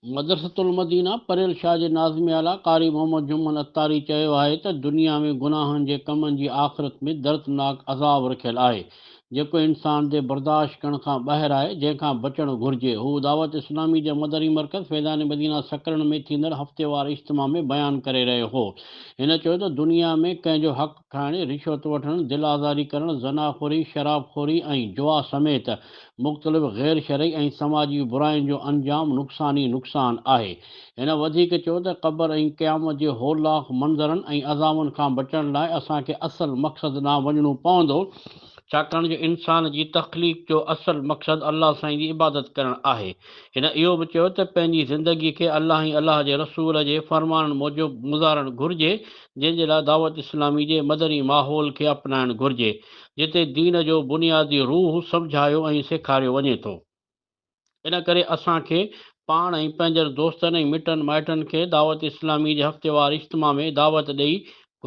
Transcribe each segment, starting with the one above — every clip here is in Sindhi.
مدرسة المدينه پريل شاهه جي ناظم اعليٰ قاري محمد جمن عطاري چيو آهي ته دنيا ۾ گناهن جي ڪمن جي آخرت ۾ دردناڪ عذاب رکيل آهي جيڪو انسان جي برداشت ڪرڻ کان ٻاهر آهي، جنهن کان بچڻ گهرجي. هو دعوت اسلامي جي مدري مرڪز فيضان مدينه سڪرنڊ ۾ ٿيندڙ هفتيوار اجتماع ۾ بيان ڪري رهيو هو. هن چيو ته دنيا ۾ ڪنهن جو حق کائڻ، رشوت وٺڻ، دل آزاري ڪرڻ، زنا خوري، شراب خوري ۽ جوا سميت مختلف غير شرعي ۽ سماجي براين جو انجام نقصان ئي نقصان آهي. هن وڌيڪ چيو ته قبر ۽ قيامت جي هولناڪ منظرن ۽ عذابن کان بچڻ لاء اسان کي اصل مقصد ڏانهن وڃڻو پوندو، ڇاڪاڻ جو انسان جي تخليق جو اصل مقصد الله سائين جي عبادت ڪرڻ آهي. هن اهو به چيو ته پنهنجي زندگي کي الله ۽ الله جي رسول جي فرمانن موجب گذارڻ گهرجي، جنهن جي لاء دعوت اسلامي جي مدني ماحول کي اپنائڻ گهرجي. جتي دين جو بنيادي روح سمجهايو ۽ سيکاريو وڃي ٿو. ان ڪري اسان کي پاڻ ۽ پنهنجن دوستن ۽ مٽن مائٽن کي دعوت اسلامي جي هفتيوار اجتماع ۾ دعوت ڏئي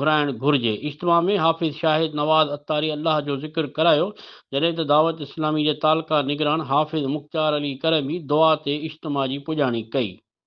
گهرائڻ گهرجي. اجتماع ۾ حافظ شاهد نواز عطاري الله جو ذڪر ڪرايو، جڏهن ته دعوت اسلامي جي تعلقه نگران حافظ مختيار علي ڪرمي دعا تي اجتماع جي پڄاڻي ڪئي.